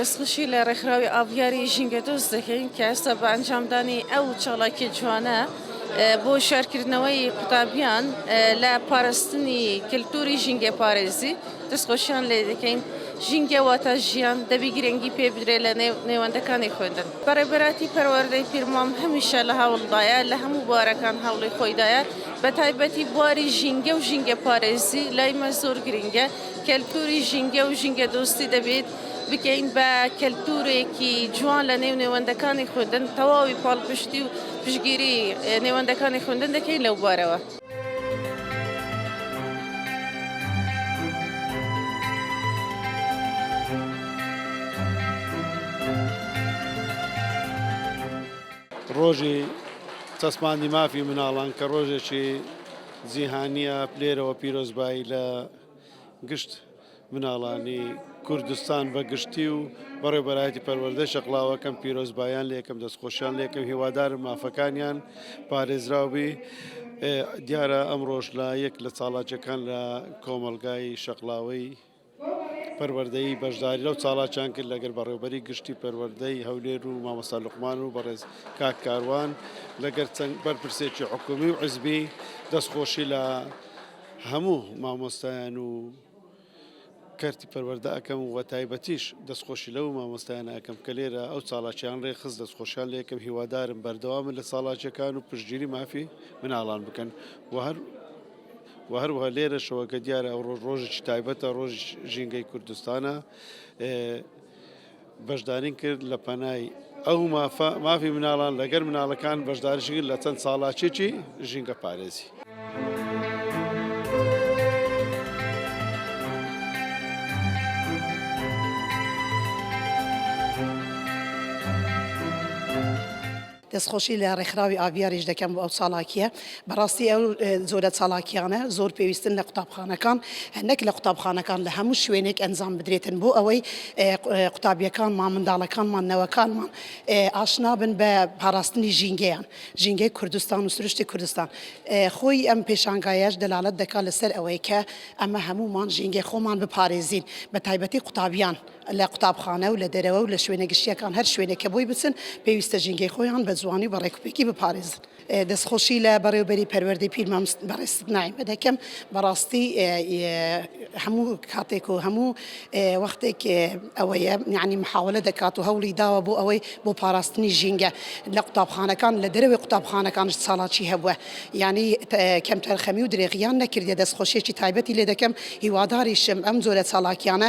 دەستخۆشی لە ڕێکخراوی ئابیاری ژینگە دۆست دەکەین کە ئێستا بە ئەنجامدانی ئەو چاڵاکی جوانە بۆ شارکردنەوەی قوتابیان لە پاراستنی کللتوری ژینگە پارێزی دەست خۆشیان لێ دەکەین. ژینگە واتە ژیان، دەبی گرنگی پێ بدرێ لە نێو نێوەندەکانی خوێندن. بەڕێبەراتی پەروەردەی پیرمام هەمیشە لە هەوڵدایە، لە هەموو بوارەکان هەوڵی خۆی دایە، بە تایبەتی بواری ژینگە و ژینگەپارێزی لای مە زۆر گرنگە. کەلتووری ژینگە و ژینگەدۆستی دەبێت بکەین بە کەلتوورێکی جوان لە نێو نێوەندەکانی خوێندن، تەواوی پاڵپشتی و پشتگیری نێوەندەکانی خوێندن دەکەین لەو بوارەوە. ڕۆژی چەسپاندی مافی مناڵان کە ڕۆژێکی جیهانیە لێرەوە پیرۆزبایی لە گشت مناڵانی کوردستان بە گشتی و بەڕێبەرایەتی پەروەردەی شەقڵاوەکەم پیرۆزبایان لەکەم دەستخۆشیان لەکەم هیوادارم مافەکانیان پارێزراوبی دیارە ئەمڕۆژ لە یەک لە چاڵاچەکان لە کۆمەلگای شەقلاوەی پەروەردەی بەشداری لەو چاڵاچان کرد لەگەر بەڕێوبەری گشتی پەروەردەی هەولێر و مامەسا لقمان و بەڕێز کاک کاروان لەگەر چەند بەرپرسێکی حکومی و عزبی دەستخۆشی لە هەموو مامۆستایان و کەرتی پەروەردە ئەکەم و تایبەتیش دەستخۆشی لەو مامۆستایانە ئەکەم کە لێرە ئەو چاڵاکیان ڕێکخست دەستخۆشیان لێکم هیوادارم بەردەوامن لە چاڵاکیەکان و پشتگیری مافی مناڵان بکەن و هەر و هەروە لێرەشەوە کە دیارە ئەو ڕۆژ ڕۆژێکی تایبەتە ڕۆژ ژینگەی کوردستانە بەشدارین کرد لە پەنای ئەو مافە مافی مناڵان لەگەر مناڵەکان بەشداریشگر لە چەند چاڵاکێکی ژینگە پارێزی. دەستخۆشی لە ڕێکخراوی ئاڤیاریش دەکەم بۆ ئەو چالاکییە. بەڕاستی ئەو جۆرە چالاکییانە زۆر پێویستن لە قوتابخانەکان، نەک لە قوتابخانەکان، لە هەموو شوێنێک ئەنجام بدرێتن بۆ ئەوەی قوتابییەکانمان، منداڵەکانمان، نەوەکانمان ئاشنا بن بە پاراستنی ژینگەیان، ژینگەی کوردستان و سروشتی کوردستان. خۆی ئەم پێشانگایەش دەلالەت دەکات لەسەر ئەوەی کە ئەمە هەموومان ژینگەی خۆمان بپارێزین، بەتایبەتی قوتابیان. لە قوتابخانە و لە دەرەوە و لە شوێنە گشتییەکان هەر شوێنێک کە بۆی بچن پێویستە ژینگەی خۆیان بە جوانی و بە ڕێکوپێکی بپارێزن. دەستخۆشی لە بەڕێوەبەری پەروەردەی پیر مامست بەڕێزت نایمە دەکەم بەڕاستی هەموو کاتێک و هەموو وەختێک ئەوەیە یعنی محاولە دەکات و هەوڵی داوە بۆ ئەوەی بۆ پاراستنی ژینگە لە قوتابخانەکان لە دەرەوەی قوتابخانەکانش چاڵاکی هەبووە یعنی کەم تەرخەمی و درێغیان نەکردێ دەستخۆشیێکی تایبەتی لێ دەکەم هیواداریشم ئەم جۆرە چاڵاکیانە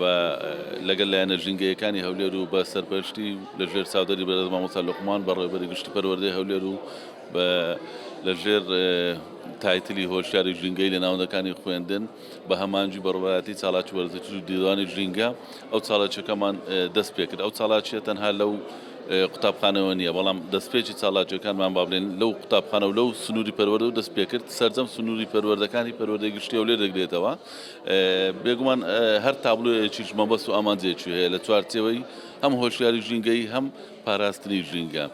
و لەگەل لایەنە ژینگەییەکانی هەولێر و بە سەرپەرشتی لە ژێر چاودێری بەرێز مامۆستا لوقمان بەڕێوەبەری گشتی پەروەردەی هەولێر و بە لە ژێر تایتلی هۆشیاری ژینگەی لە ناوەندەکانی خوێندن بە هەمانجی بەڕوایەتی چاڵاکی وەرزشی و دیوانی ژینگە ئەو چاڵاکیەکەمان دەست پێکرد ئەو چاڵاکیە تەنها لەو قوتابخانەوە نییە بەڵام دەستپێکی چاڵاکیەکانمان بابلێن لەو قوتابخانە و لەو سنووری پەروەردە و دەست پێکرد سەرجەم سنووری پەروەردەکانی پەروەردەی گشتی هەولێر دەگرێتەوە بێگومان هەر تابلۆیەکیش مەبەست و ئامانجێکی هەیە لە چوارچێوەی هەم هۆشیاری ژینگەی هەم پاراستنی ژینگە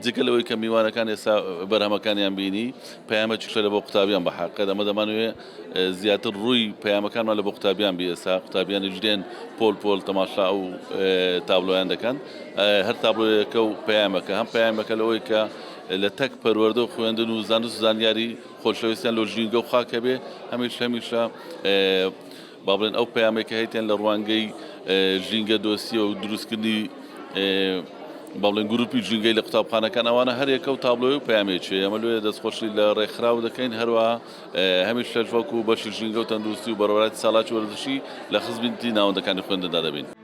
جگە لەوەی کە میوانەکان ئێستا بەرهەمەکانیان بینی پەیامەکی شەرە بۆ قوتابیان بە حقێت ئەمە دەمانوێ زیاتر ڕووی پەیامەکانمان لە بۆ قوتابیان بی ئێستا قوتابیانیش دێن پۆل پۆل تەماشا و تابلۆیان دەکەن هەر تابلۆیەکە و پەیامەکە هەم پەیامەکە لەوەی کە لە تەک پەروەردە و خوێندن و زانست و زانیاری خۆشەویستیان لۆ ژینگە و خاک هەبێ هەمیش هەمیشە با بڵێن ئەو پەیامێک کە هەیتیان لە ڕوانگەی ژینگە دۆسیە و دروستکردنی با بڵێن گروپی ژینگەی لە قوتابخانەکان ئەوانە هەرێکە و تابلۆی و پامێکی ئەمە لێ دەستخۆشی لە ڕێکخراو دەکەین هەروە هەمیش شەش وەکو بەشی ژینگە و تەندروستی و بەڕێوەبەرایەتی ساڵاچی وەرزشی لە خزمەتی ناوەندەکانی خوێندندا دەبین.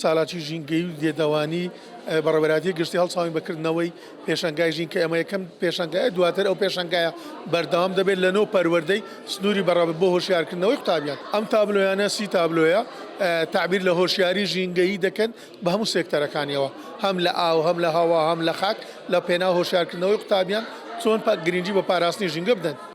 چالاکی ژینگەیی و لێدەوانی بەڕێوەبەرایەتی گشتی هەڵساوین بە کردنەوەی پێشەنگای ژین کە ئەمە یەکەم پێشەنگایە دواتر ئەو پێشەنگایە بەردەوام دەبێت لە نۆ پەروەردەی سنووری بەڕێوەبەر بۆ هۆشیارکردنەوەی قوتابیان ئەم تابلۆیانە سی تابلۆیە تعبیر لە هۆشیاری ژینگەیی دەکەن بە هەموو سێکتەرەکانیەوە هەم لە ئاو هەم لە هەوا هەم لە خاک لە پێنا هۆشیارکردنەوەی قوتابیان چۆن گرنگی بە پاراستنی ژینگە بدەن.